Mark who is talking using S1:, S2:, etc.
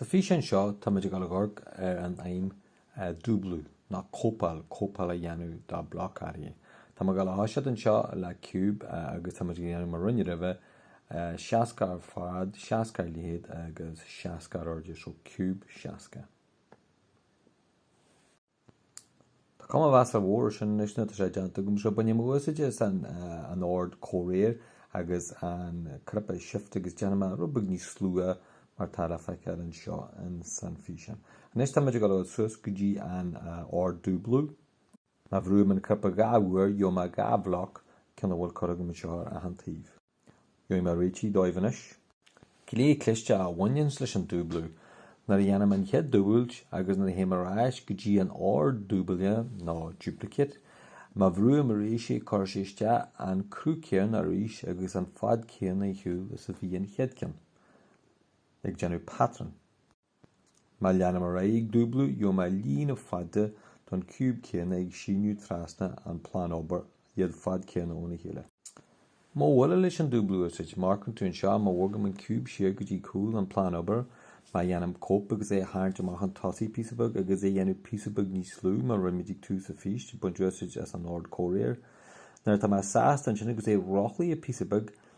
S1: Sa físeán seo táimid ag dul a dh'amharc ar an fheidhm dúblú, nó cóipeáil, cóipeáil a dhéanamh de bloc áirithe. Táim ag dul a thoiseacht anseo le ciúb agus táimid ag déanamh mar a rinne roimhe, 60 ar fad, 60 ar leithead agus 60 ar airde, so ciúb 60. Tá cuma mheasartha mhór ar sin anois nuair atá sé déanta agam so bainfidh mé úsáid as an ord comhréir agus an cnaipe shift agus déanfaidh mé rud beag níos lú é mar tá le feiceáil anseo insan físeán. Anois táimid ag dul suas go dtí an ord dúblú. Má bhrúim an cnaipe dhá uair gheobhaidh mé dhá bhloc, ceann a bhfuil curtha agam anseo ar achan taobh. Gheobhaidh mé réitithe dóibh anois. Gné cliste a bhaineanns leis an dúblú, nuair a dhéanaim an chéad dúbailt agus nuair a théim ar ais go dtí an ord dúblaigh nó duplicate, má bhrúim arís é cuirfidh sé isteach an cruth céanna arís agus an fad céanna ar shiúl is a bhí an chéad ceann, ag déanamh patrún. Má leanaim ar aghaidh ag dúblú, gheobhaidh mé líne fada don ciúb céanna ag síneadh trasna an plean obair, iad fad céanna óna chéile. Modh eile leis an dúblú a úsáid, mar a tchíonn tú anseo má bhogaim an ciúb siar go dtí cúl an plean obair, má dhéanaim cóip agus é a tharraingt amach chun tosaigh píosa beag agus é dhéanamh píosa beag níos lú mar a rinne muid ag tús an phíosa, baint úsáid as an ord comhréir. Nuair atá mé sásta ansin agus é rothlaithe píosa beag,